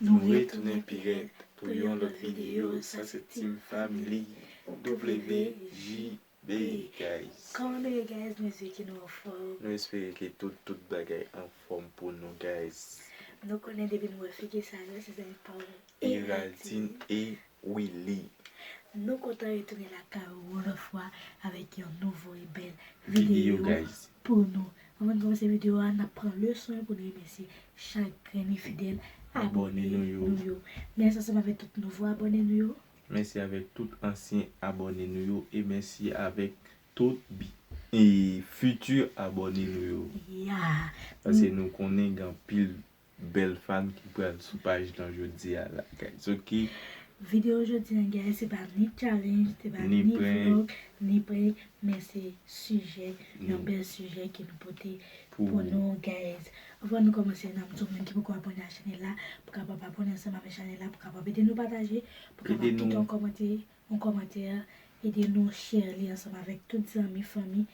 Nou retounen pi rèd pou yon lòt video sa se team family WJB guys. Kòman nou ye guys nou espere ke nou anfòm. Nou espere ke tout tout bagay anfòm pou nou guys. Nou konnen depi nou wè figi Sagar se zèl paw Héraldine e wi li. Nou kontan retounen lakay ou yon lòt fwa avèk yon nouvo e bèl videyo pou nou. Anvan n kòmanse videyo a, n ap pran le swen pou n remèsye chak grenn e fidèl abòne nou yo. Mèsi ansanm avèk tout nouvo abòne nou yo. Mèsi avèk tout ansyen abòne nou yo e mèsi avèk tout bi e fiti abòne nou yo. Pase nou konnen gen anpil Bel fanm ki pral sou paj lan jodia la guys ok. Video jodi an guys se pa ni challenge se pa ni vlog ni prank men se sijè yon bel sijè ke nou pote pou nou guys avan nou komanse nan mdi w moun ki poko abone a chanel la pou kapab abone ansanm avek chanel la pou kapab ede nou pataje pou kapab kite yon komante yon komante ede nou share li ansanm avek tout zanmi fanmi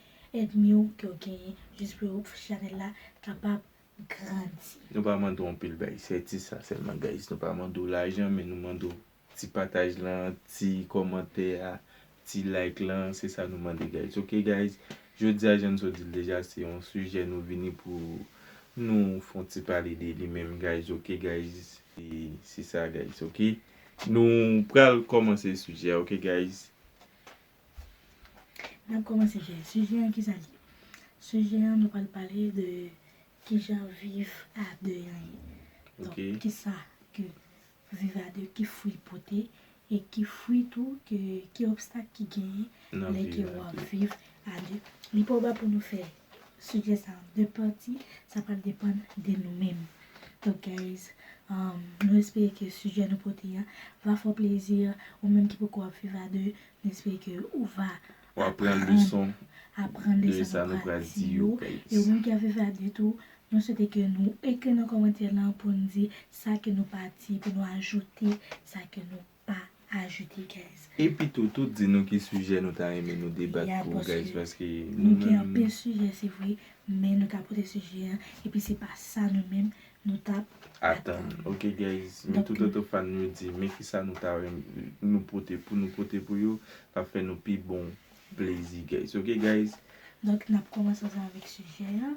èdmi w ke w genyen jis pou chanel la kapab grandi. Nou pa mande w anpil bagay, se ti sa sèlman guys. Nou pa mande w lajan men nou mande w ti pataj lan, ti kòmantè a, ti like lan, se sa nou mande guys ok guys. Jodi a jan n sot di l deja se yon sijè nou vini pou nou fè yon ti pale de li menm guys ok guys. E se sa guys ok. Nou pral kòmanse sijè a ok guys. N ap kòmanse fè sijè an, kisa l ye? Sijè an nou pral pale de kijan viv a 2 an ye. Donk kisa ke viv a 2, ki fwi l pote e ki fwi tou ke, ki obstak ki genyen lè ke w ap viv a 2. Li pa ou pa pou nou fè Sujet sa an 2 pati, sa pral depann de nou menm. Donc guys, nou espere ke sujet nou pote a va fè w plezi, ou menm ki poko ap viv a 2, nou espere ke ou va aprann leson de sa nou pral di yo guys. E ou menm ki ap viv a 2 tou, nou swete ke nou ekri nan kòmantè lan pou n di sa ke nou pa di, pou nou ajoute sa ke nou. pa ajoute guys. Epi tou tout di nou ki sijè nou ta renmen nou debat pou guys paske nou gen anpil sijè se vre men nou ta pote sijè an epi se pa sa nou menm nou tap atann ok guys men tout oto fan yo di men kisa nou ta renmen nou pote pou nou pote pou yo kap fè nou pi bon plezi guys ok guys. Donk nap kòmanse ansanm avèk sijè an.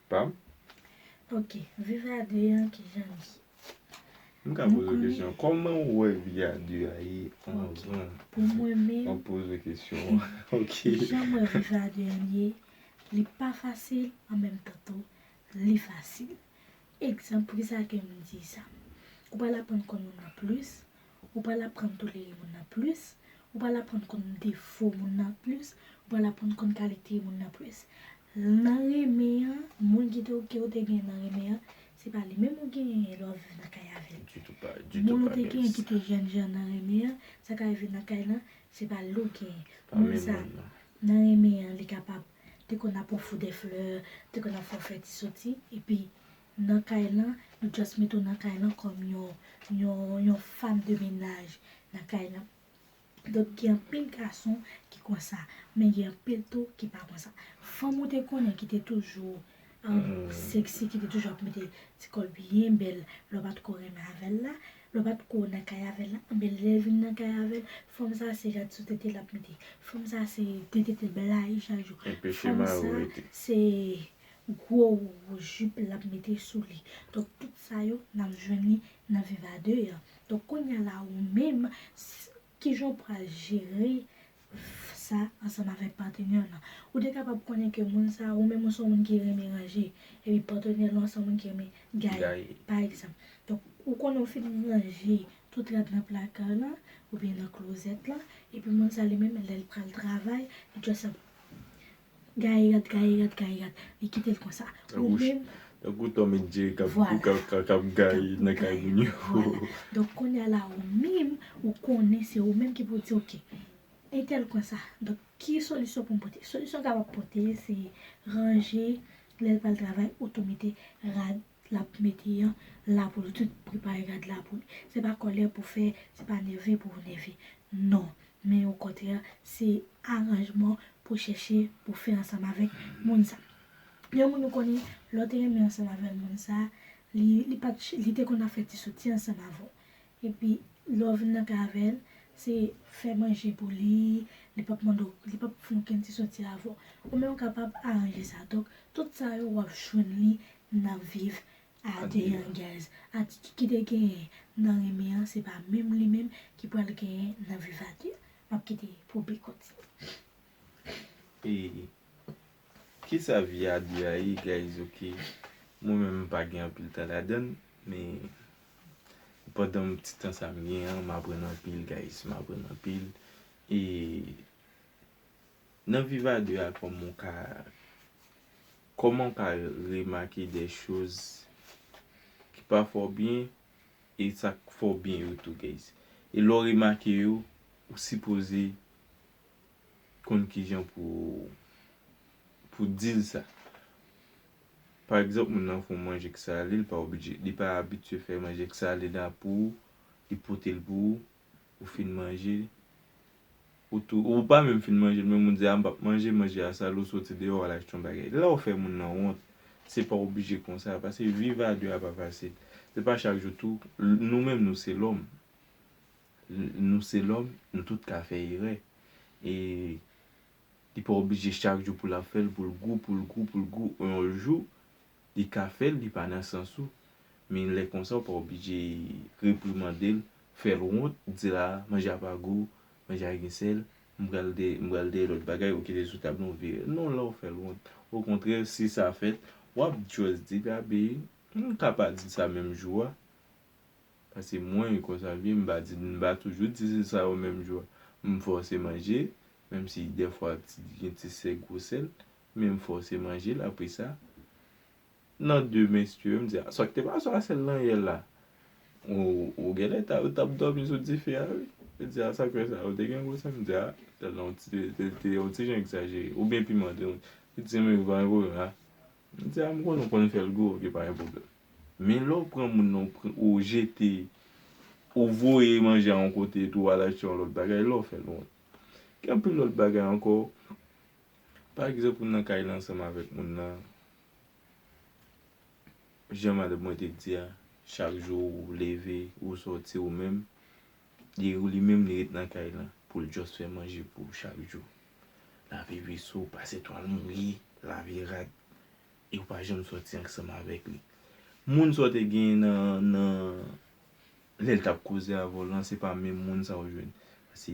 Pam? Ok, viv a 2 an kijan li ye? M ka poze w kesyon, kòman ou wè vi a 2 a ye anvan ou poze kesyon an? Ok. Kijan m wè viv a 2 an ye, li pa fasil an menm tan tou li fasil. Egzanp, poukisa ke m di sa? Ou pral aprann konn moun nan plis, ou pral aprann tolere moun nan plis, ou pral aprann konn defo moun nan plis, ou pral aprann konn kalite moun nan plis. Nan renmen an, moun ki te ke ou te gen nan renmen an, se pa li menm ou genyen lè wap viv nan kay avè l. Ditou pa, ditou pa genyen sa. Moun ou te genyen ki te jèn jan nan renmen an, sa ka rive nan kay lan, se pa li ou genyen. Pa menm moun nan. Moun sa, nan renmen an li kapab te konn ap ofw dè flè, te konn ap fè w fè ti soti, epi nan kay lan, yo just mete w nan kay lan kòm yon, yon, yon fam de mennaj nan kay lan. Donk gen anpil gason ki konsa, men gen anpil tou ki pa konsa. Fanm ou te konnen ki te toujou sexy, ki te toujou ap mete ti kòl byen bèl lè w pa t ko renmen avè l la, lè w pa t ko nan kay avè l la, anben lè l vin nan kay avè l, fanm sa se jan ti sou tete l ap mete, fanm sa se ti tete blayi chak jou, fanm sa se gwo jip l ap mete sou li. Donk tout sa yo n ap jwenn li nan Viv a 2 an. Donk kounya la ou menm kijan ou pral jere sa ansanm avèk patenè w lan. Ou te kapab konnen ke moun sa ou menm ou se yon moun ki renmen ranje epi patenè lan se yon moun ki renmen gaye pa egzanp. Donk ou konnen ou fin ranje tout rad nan plaka lan oubyen nan klozèt lan epi moun sa li menm lè l pral travay li just ap Gaye rat gaye rat gaye rat li kitel konsa ou menm. Tankou Tom et Jerry kap kap kap gaye nan kay moun yo. Vwala donk kounya la ou menm ou konnen se ou menm ki pou di ok entèl konsa donk ki solisyon poum pote solisyon kapab pote se ranje lèl pral travay ou tou mete rad lap mete an la pou li tout prepare rad la pou li se pa kòlè pou fè se pa nève pou ou nève non men okontrè se aranjman pou chèche pou fè ansanm avèk moun sa yon moun ou konnen lè ou te renmen ansanm avèl moun sa li li pat li te konn ap fè ti soti ansanm avèw epi lè ou vin nan kay avèl se fè manje pou li li pap mande w li pap fon ken ti soti avèw ou menm ou kapab aranje sa donk tout sa yo wap jwenn li nan viv a 2 an guys atitid ki te genyen nan renmen an se pa menm li menm ki pral genyen nan viv a 2 map kite pou Bee kontinye. E kisa vi a 2 a ye guys ok mwen menm m pa gen anpil tan ladann men pandan ti tan sa m gen an m aprann anpil guys m aprann anpil e. Nan viv a 2 a kòman w ka kòman w ka remake de choz ki pa fè w byen e sa k fè w byen yo tou guys e lè w remake yo ou sipoze konn kijan pou pou di l sa pa egzanp moun nan fè w manje k sale li pa oblije li pa abitye fè manje k sale la pou ou li pote l pou ou ou fin manje ou tou ou pa menm fin manje l menm ou di a m pap manje manje a sal ou soti deyò wal achte yon bagay la ou fè moun nan wont se pa oblije konsa paske viv a 2 a pa fasil se pa chak jou tou nou menm nou se lòm nou se lòm nou tout ka fè erè e li pa oblije chak jou pou lap fèl pou l gou pou l gou pou l gou yon jou Li ka fèl li pa nan sans ou men lè konsa ou pa oblije reprimandel, fèl wont, dil a manje a pa gou, manje a gen sèl, m pral de m pral dèyè lòt bagay ou kite sou tab lan ou vire l non la ou fèl wont okontrè si sa fèt wap just di Gabe m ka pa dil sa menm jou a paske mwen konsa m ye m pa di m pa toujou di li sa yo menm jou a m fòse manje menm si dèfwa gen ti sèl gwo sèl Men m fòse manje l apresa nan de menstue m di a sa k te pase a sèl nan yè la ou genlè ta ou t ap dòmi sou dife a wi li di a sa k fè sa ou te gen gwo sèl m di a sèl la ou te yon ti jan egzajere ou byen piman tou li di m wi pa gen pwoblèm a m di a m konnen ou konn fè l gou ok pa gen pwoblèm men lè w pran moun nan ou jete ou voye manje a yon kote epi w al achte yon lòt bagay la w fè l wont gen anpil lòt bagay ankò Pa egzanp, ou nan kay la ansanm avèk moun nan, jan madanm mwen te di a, chak jou ou leve, ou sòti ou menm, li ou li menm li ret nan kay la pou l just fè manje pou ou chak jou. Lave veso, pase twal mouye, lave rad, e ou pa janm sòti ansanm avèk li. Moun sa w te genyen nan, nan, lè l t ap koze avè w lan se pa menm moun sa ou jwenn. Se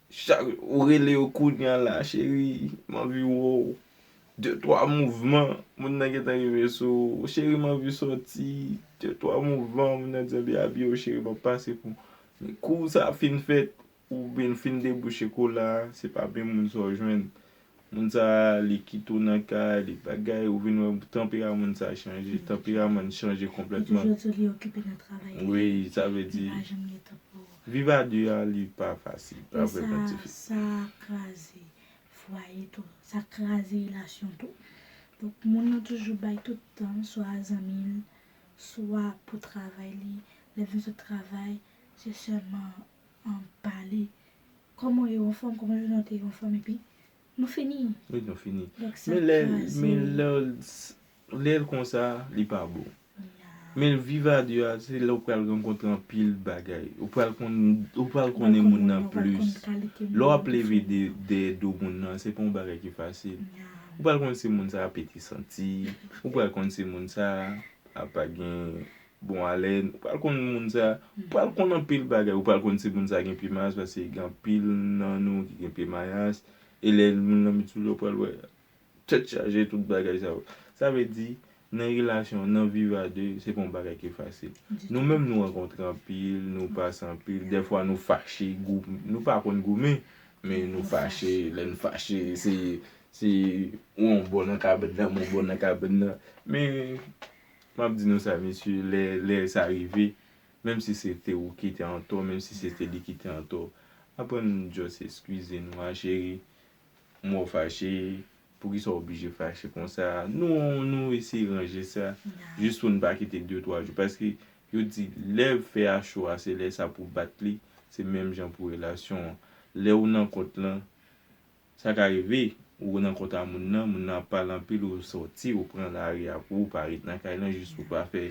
Chak ou rele yo kounya la cheri m anvi wè w de twa mouvman moun nan gentan rive sou ou cheri m anvi sòti de twa mouvan moun nan di anvi abiye w cheri m ap pase pou men kou sa fin fèt ou byn fin debouche kola se pa menm moun sa w jwenn Moun sa li kite w nan kay li bagay ou vin wè tanpera moun sa chanje tanperaman n chanje konplètman wi sa vle di viv a 2 a li pa fasil pa vrè man tifi. Koman w ye ou anfòm koman jounen w te ye ou anfòm epi nou fini epi nou fini donk sa kraze men lè lè l konsa li pa bon men l viv a 2 a se lè ou pral rankontre anpil bagay ou pral konn ou pral konnen moun nan plis lè w ap leve dèyè do moun nan se pa yon bagay ki fasil ou pral konn si moun sa a pete santi ou pral konn si moun sa a pa gen Bon Alain, ou pral konn moun sa, ou pral konn anpil bagay, ou pral konn si moun sa gen pye mayas paske gen anpil nan nou ki gen pye mayas, e lè moun lan met sou li yo pral wè tèt chaje tout bagay sa yo. Sa vle di nan relasyon, nan viv a 2 se pa yon bagay ki fasil. Nou menm nou rankontre anpil, nou pase anpil, dèfwa nou fache, gou, nou pa konn goumen, men nou fache, lè nou fache se se ou yon bò nan kabèn nan, mwen yon bò nan kabèn nan, men Map di nou sa mesye lè lè sa rive menm si se te ou ki te antò menm si se te li ki te antò aprann just eskize nou a cheri m wè w fache poukisa w oblije fache konsa nou nou eseye ranje sa jis pou n pa kite de twa jou paske yo di lè fè a cho a se lè sa pou bat li se menm jan pou relasyon an lè ou nan kont lan Sa ka rive, ou nan kont a moun nan, moun nan ap pale anpil ou sòti ou pran lari a pou ou pa ret nan kay lan jis pou pa fè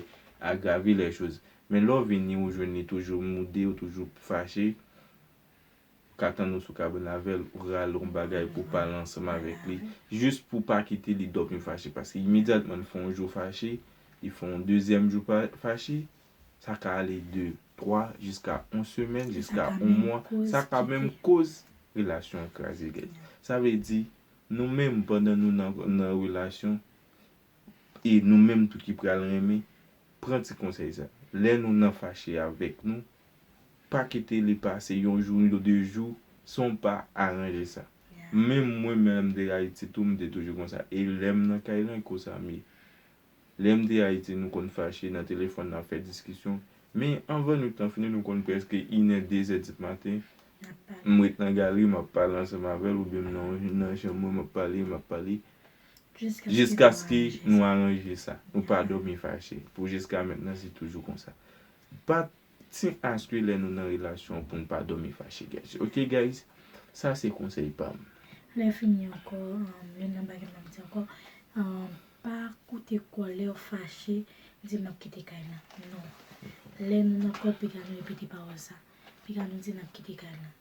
agrave lè choz. Men lè w vini ou jwenn li toujou moude ou toujou fache, ou ka tann ou sou kabann avè l, ou rale yon bagay pou w pale ansanm avèk li jis pou w pa kite li dòmi fache paske imedyatman li fè yon jou fache, li fè yon dezyèm jou fache, Sa ka ale de 3 jiska 1 semèn, jiska 1 mwa, sa ka menm koz relasyon an kraze nèt. Sa vle di, nou menm pandan nou nan relasyon, e nou menm tou ki pral renmen, pran ti konsèy sa. Lè nou nan fache avèk nou, pa kite li pase yon jou ni 2 jou san w pa aranje sa. Menm mwen menm lè m te Ayiti tou m te toujou konsa e lè m nan kay lan e konsa m ye. Lè m te Ayiti nou konn fache nan telefòn n ap fè diskisyon men anvan nwit lan fini nou konn prèske inè dezè di maten m ret nan galri m ap pale ansanm avè l oubyen m nan chanm mwen m ap pale m ap pale jiskaske nou aranje sa nou pa dòmi fache pou jiska mentnan se toujou konsa pa Team aske lè nou nan relasyon poun pa domi fache guys ok guys sa se konsèy pam. Lè fini ankò youn nan bagay map di ankò pa koute kòl lèw fache di map kite kay lan non lè nou nan kòl piga nou repete pawòl sa piga nou di nap kite kay lan.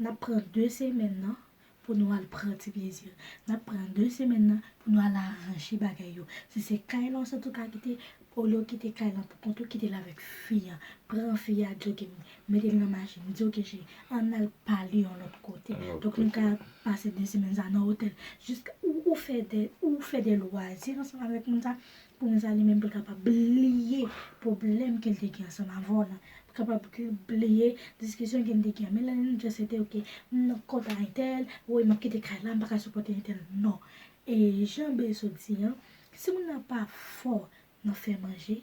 Nap pran 2 semèn nan pou nou al pran ti plezi. Nap pran 2 semèn nan pou nou al aranje bagay yo. Si se kay lan w santi w ka kite, olye w kite kay lan pou kont ou, kite l avèk fi an. Pran fi a jogging, mete l nan machin, di ok cheri, ann al pale yon lòt kote. Donk nou ka pase 2 semèn sa nan otèl. Jiska ou fè de lwazi ansanm avèk moun sa, Pou nou sa li menm pou kapab bliye pwoblèm ke l te gen ansanm avè w lan. Pou kapab bliye diskisyon ke n te gen an. Men lè nou just rete ok, m nan kont a entèl, woy m ap kite kay la, m pa ka sipòte entèl. Non. E jan Bee sot di an, si moun nan pa fò nan fè manje,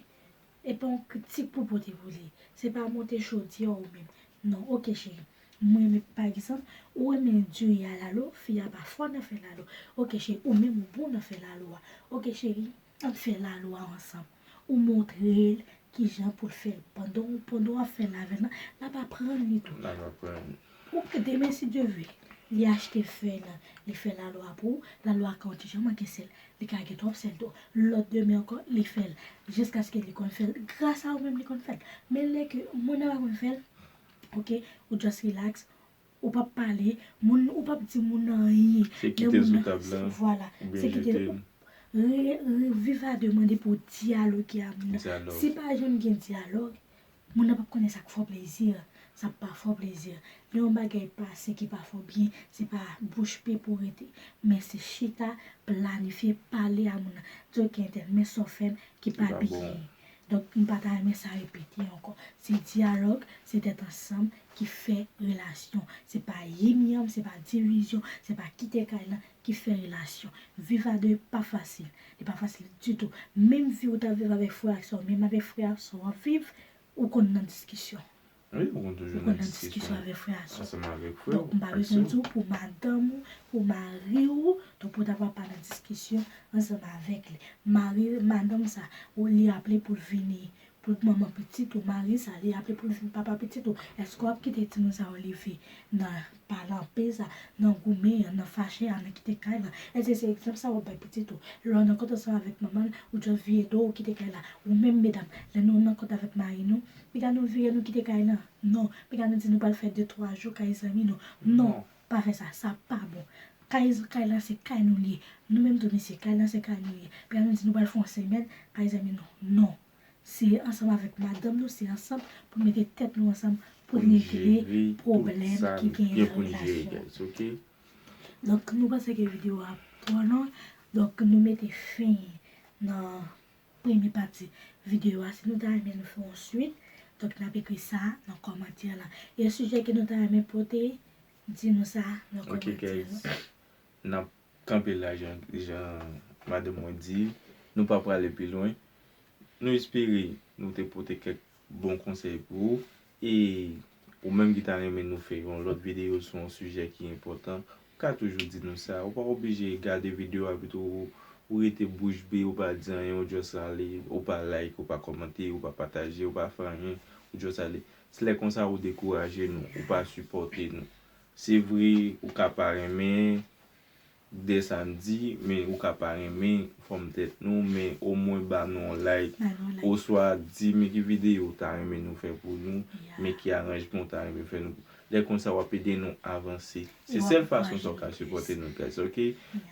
e pa yon kritik pou w pote pou li. Se pa monte chodyè ou menm. Non. Ok cheri. M renmen pa egzanp ou renmen diri a lalo fi a pa fò nan fè lalo ok cheri ou menm ou bon nan fè lalo a ok cheri ann fè lalo a ansanm ou montrel kijan poul fèl pandan pandan wap fè lave nan lap aprann li tou lap aprann ou k demen si Dye ve li achte fèy nan li fè lalo a pou ou lalo a ka yon ti jan manke sèl li ka gen twòp sèl tou lòt demen ankò li fèl jiskaske li konn fèl gras a ou menm li konn fèl men lè ke moun nan pa konn fèl ok ou just relax ou pap pale moun ou pap di moun nan anyen se kite sou tab la vwala se kite re viv a de mande pou dyaloge a moun nan si pa janm gen dyalog moun nan pap konnen sak fo plezi sak pa fo plezi lè yon bagay pase ki pa fo byen se pa bouch pe pou rete men se chita planifye pale a moun nan di ok entèl men sa w fè m ki pa byen. Donk m pa ta renmen sa repete ankò. Se dyalòg, se tèt ansanm ki fè relasyon. Se pa yim yanm, se pa divizyon, se pa kite kay lan ki fè relasyon. Viv a 2 pa fasil. Li pa fasil ditou. Menm vi ou t ap viv avèk frè ak sè w, menm avèk frè ak sè w ap viv, ou konn nan diskisyon. Wi, ou konn toujou nan diskisyon avèk frè a sè w. Donk, m pa bezwen di w pou madanm ou, pou mari w, donk pou ta va pa nan diskisyon ansanm avèk li. Mari, madanm sa, ou li aple pou l vini, pou l manman pitit ou, mari sa, li aple pou l vini papa pitit ou, èske w ap kite timoun sa yo leve nan Pa nan pe sa, nan goumen an, nan fache a, nan kite kay la. Èske se egzanp sa a w ap bay pitit ou? Lè w nan kont ansanm avèk manman l, ou djòl vire do w, ou kite kay la. Ou menm medam, lè nou nan kont avèk mari nou, pinga nou vire nou kite kay la? Non. Pinga nou di nou pral fè de twa jou kay zanmi nou? Non. Pa fè sa. Sa pa bon. Kay kay la se kay nou li ye. Nou menm tou mesye, kay la se kay nou li ye. Pinga nou di nou pral fè yon semèn kay zanmi nou? Non. Se ansanm avèk madanm nou se ansanm poun mete tèt nou ansanm poun regle pwoblèm ki gen nan relasyon donk nou panse ke video a twò long donk nou mete fen nan premye pati video a si nou ta renmen nou fè yon swit donk nap ekri sa nan kòmantè la yon sijè ke nou ta renmen pote di nou sa nan kòmantè la. kanpe la jan madanm mwen di, nou pa prale pi lwen. Nou espere nou te pote kèk bon konsèy pou ou e ou menm ki ta renmen nou fè yon lòt videyo sou yon sijè ki enpòtan, ou ka toujou di nou sa. Ou pa oblije gade videyo a epitou ou rete bouch be, ou pa di anyen, ou just ale, ou pa like, ou pa kòmante, ou pa pataje, ou pa fè anyen, ou just ale. Se lè konsa ou dekouraje nou, ou pa sipòte nou. Se vre ou ka pa renmen de sa n di men ou ka pa renmen fòm tèt nou men omwen ba nou yon like oswa di men ki videyo ou ta renmen nou fè pou nou men ki aranjman ou ta renmen fè nou lè konsa wap ede nou avanse se sèl fason sa ou ka sipòte nou guys ok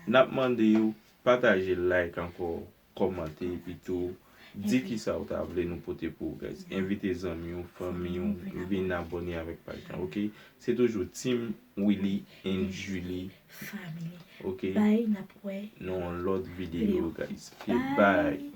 nap mande ou pataje like ankò Kòmante epi tou di kisa ou ta vle nou pote pou ou guys. Envite zanmi ou, fanmi ou vin abòne avèk paj lan ok. Se toujou Team Willy and Julie family ok. Bye nap wè nou yon lòt video guys ok bye.